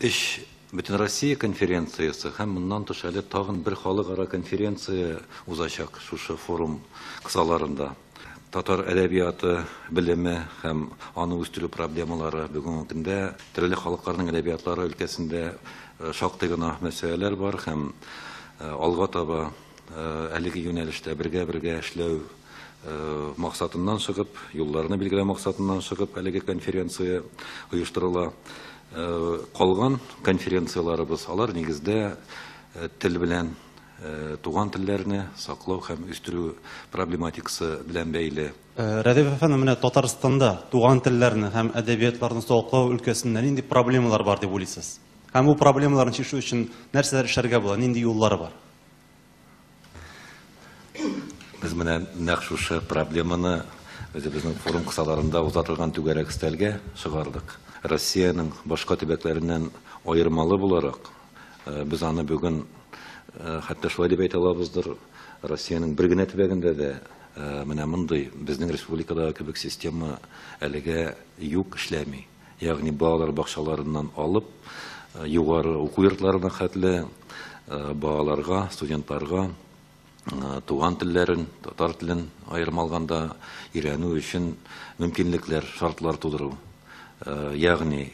Өч Бөтенроссия конференциясе һәм моннан тыш әле тагын бер халыкара конференция узачак шушы форум кысаларында. Татар әдәбияты белеме һәм аны үстерү проблемалары бүгенге көндә төрле халыкларның әдәбиятлары өлкәсендә шактый гына мәсьәләләр бар һәм алга таба әлеге юнәлештә бергә-бергә эшләү максатыннан чыгып, юлларны билгеләү максатыннан чыгып, әлеге конференция оештырыла. Калган конференцияләребез, алар нигездә тел белән, туган телләрне саклау һәм үстерү проблематикасы белән бәйле. Рәдиф әфәнде, менә Татарстанда туган телләрне һәм әдәбиятларны саклау өлкәсендә нинди проблемалар бар дип уйлыйсыз? Һәм бу проблемаларны чишү өчен нәрсәләр эшләргә була, нинди юллары бар? Без менә нәкъ шушы проблеманы үзебезнең форум кысаларында узатылган түгәрәк өстәлгә чыгардык. Россиянең башка төбәкләреннән аермалы буларак, без аны бүген хәтта шулай дип әйтә алабыздыр, Россиянең бер генә төбәгендә дә менә мондый, безнең республикадагы кебек система әлегә юк, эшләми. ягъни балалар бакчаларыннан алып, югары уку йортларына хәтле балаларга, студентларга туган телләрен, татар телен аерым алганда өйрәнү өчен мөмкинлекләр, шартлар тудыру. Ягъни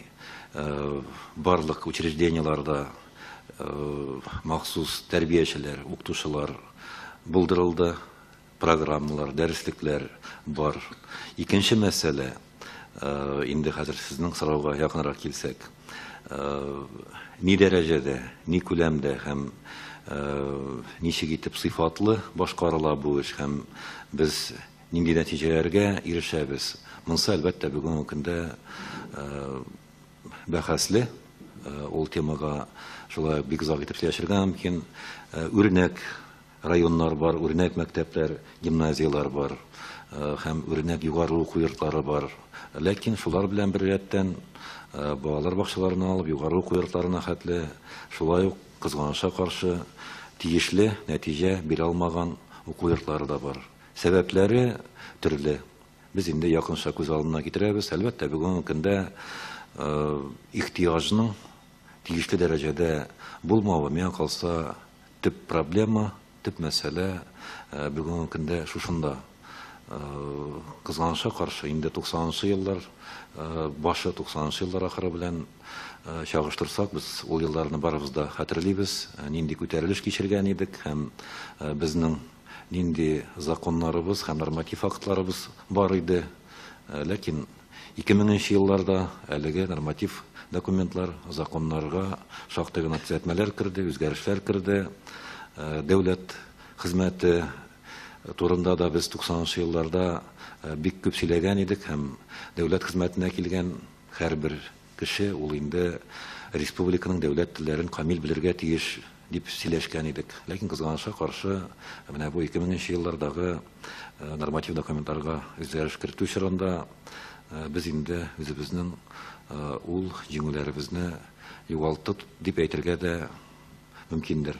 барлык учреждениеларда махсус тәрбиячеләр, укытучылар булдырылды. программалар, дәреслекләр бар. Икенче мәсьәлә, инде хәзер сезнең сорауга якынрак килсәк, ни дәрәҗәдә, ни күләмдә һәм ничек итеп сыйфатлы башкарыла бу эш һәм без нинди нәтиҗәләргә ирешәбез? Монсы, әлбәттә, бүгенге көндә бәхәсле. Ул темага шулай ук бик озак итеп сөйләшергә мөмкин. Үрнәк Районнар бар, үрнәк мәктәпләр, гимназияләр бар һәм үрнәк югары уку йортлары бар. Ләкин шулар белән беррәттән, балалар бакчаларыннан алып югары уку йортларына хәтле, шулай ук, кызганычка каршы, тиешле нәтиҗә бирә алмаган уку йортлары да бар. Сәбәпләре төрле. Без инде якынча күз алдына китерәбез. Әлбәттә, бүгенге көндә ихтыяҗның тиешле дәрәҗәдә булмавы, миңа калса, төп проблема, төп мәсьәлә бүгенге көндә шушында. Кызганычка каршы, инде 90 нчы еллар башы, 90 нчы еллар ахыры белән чагыштырсак, без ул елларны барыбыз да хәтерлибез, нинди күтәрелеш кичергән идек һәм безнең нинди законнарыбыз һәм норматив актларыбыз бар иде. Ләкин Ике меңенче елларда әлеге норматив документлар, законнарга шактый гына төзәтмәләр керде, үзгәрешләр керде. Дәүләт хезмәте турында да без 90 нчы елларда бик күп сөйләгән идек һәм дәүләт хезмәтенә килгән һәрбер Кеше, ул инде республиканың дәүләт телләрен камил белергә тиеш, дип сөйләшкән идек. Ләкин, кызганычка каршы, менә бу 2000 нче еллардагы норматив документларга үзгәреш кертү чорында без инде үзебезнең ул җиңүләребезне югалтык дип әйтергә дә мөмкиндер.